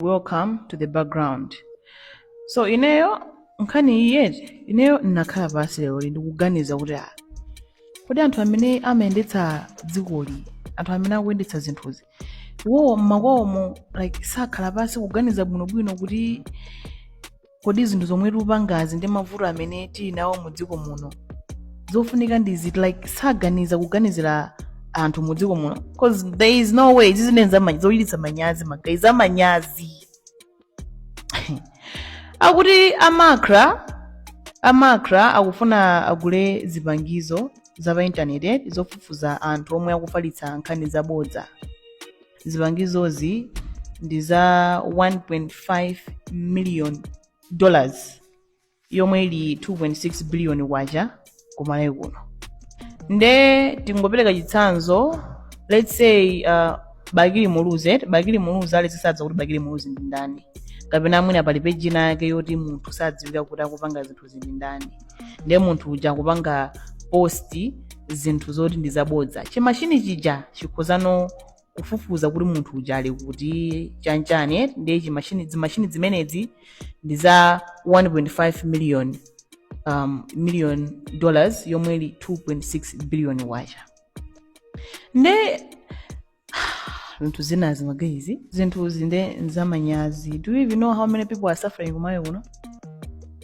welcome to the background so ineyo nkhani iyiyi ineyo ndinakhala pansi leroli ndikuganiza kuti ah, kodi anthu amene amayendetsa dzikoli anthu amene akuyendetsa zinthuzi iwowo mmakwawomo like sakhala pansi kuganiza bwinobwino kuti kodi zinthu zomwe tikupangazi ndi mavuto amene tili nawo mu dziko muno zofunika ndi ziti like saganiza kuganizira anthu mu dziko muno cause there is no way zinthu zochititsa manyazi magayizi za manyazi akuti a MACRA a MACRA akufuna agule zipangizo za pa intaneti zofufuza anthu omwe akufalitsa nkhani zabodza zipangizozi ndi za 1.5 million dollars yomwe ili 2.6 billion kwacha kumalawi kuno nde tingopereka chitsanzo let's say uh, bakili muluzi bakili muluzi ali sadziwa kuti bakili muluzi ndi ndani kapena mwina pali peji inayake yoti munthu sadziwika kuti akupanga zinthu zija ndi ndani ndiye munthu uja akupanga posti zinthu zoti ndi zabodza chimashini chija chikhozano kufufuza kuti munthu uja ali kuti chanchani eh? ndiye chimashini zimashini zimenezi ndi za 1.5 million um, million dollars yomwe ili 2.6 billion kwacha nde zinthu zinazi magaizi zinthuzi nde nzamanyazi do you even know how many people are suffering kumalawi kuno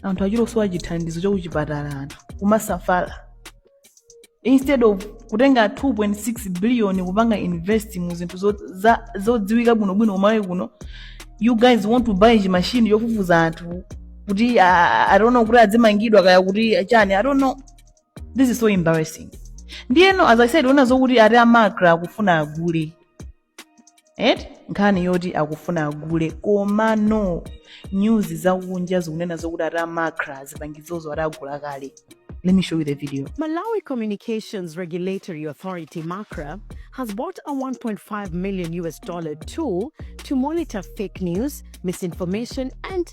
anthu akusowa chithandizo chakuchipatala anthu kumasafala instead of kutenga 2.6 billion kupanga invest mu zinthu zo- za- zodziwika bwinobwino kumalawi kuno you guys want to buy chimashini chofufuza anthu kuti ah, i don't know kuti adzimangidwa kaya kuti chani i don't know this is so embarrassing ndiyeno as i said akunena zokuti ati a MACRA akufuna agule eti nkhani yoti akufuna agule komano news zakunja zikunena zokuti ati a MACRA zipangizozo ati agula kale let me show you the video Malawi Communications Regulatory Authority (MACRA) has bought a 1.5 million US dollar tool to monitor fake news, misinformation, and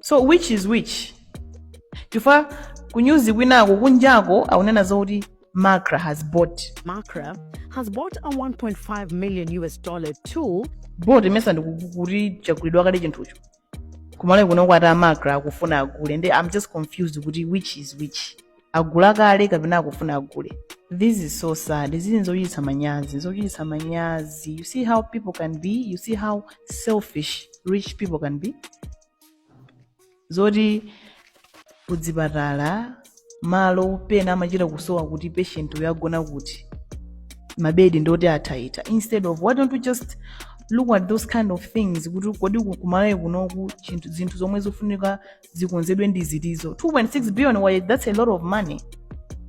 so which is which chifukwa kunyuzi kwinako kunjako akunena zoti macra has bought Macra has bought a 1.5 million US dollar tool bought it means ndikuti chagulidwa kale chinthucho kumalawi kuno akuti a macra akufuna agule nde i'm just confused kuti which is which agula kale kapena akufuna agule this is so sad izi nzochititsa manyazi nzochititsa manyazi you see how people can be you see how selfish rich people can be zoti kudzipatala malo pena amachita kusowa kuti patient uyo agona kuti mabedi ndi oti athaitha instead of why don't we just look at those kind of things kuti kodi ku- kumalawi kunoku chinthu zinthu zomwe zofunika zikonzedwe ndi ziti zo 2.6 billion why that's a lot of money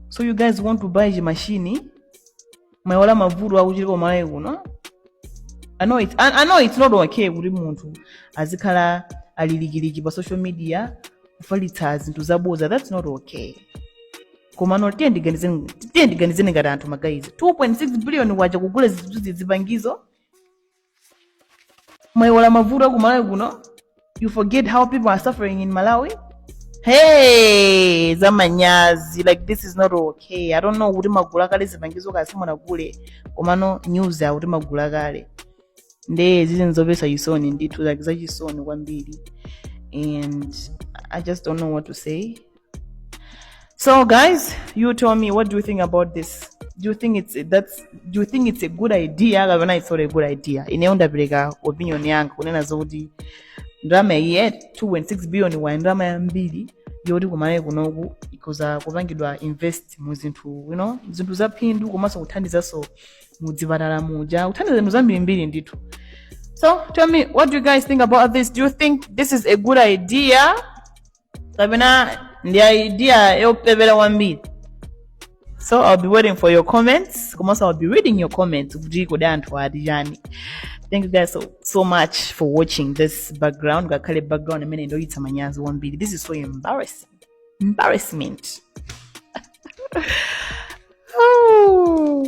so you guys want to buy chimashini mwayiwala mavuto akuchitika kumalawi kuno I know, it, I, I know it's not okay kuti munthu azikhala alilikiliki pa social media kufalitsa zinthu zaboza that's not okay komano tiyeni tiganizeni tiyeni tiganizeni ngati anthu magayizi 2.6 billion waja kugula zinthu zipangizo mwaiwala mavuto aku malawi kuno you forget how people are suffering in malawi hey zamanyazi like this is not okay i don't know kuti mwagula kale zipangizo kaya simunagule komano news yakuti mwagula kale nde zizi nzopatsa chisoni ndithu like zachisoni kwambiri and i just don't know what to say So guys, you tell me what do you think about this? Do you think it's that's do you think it's a good idea kapena it's not a good idea? Ineyo ndapereka opinion yanga kunena zokuti ndalama iyi ya 2.6 billion wa ndalama yambiri yoti kumalawi kunoku ikhoza kupangidwa invest mu zinthu you know zinthu zaphindu komanso kuthandizanso mu dzipatala muja kuthandiza zinthu zambirimbiri ndithu so tell me what do you guys think about this do you think this is a good idea kapena ndi idea yopepera kwambiri so i'll be waiting for your comments komanso i'll be reading your comments kuti kodi anthu ati chani thank you guys so, so much for watching this background ngakhale background imeneyi ndiyochititsa manyazi kwambiri this is so embarrassing embarrassment oh.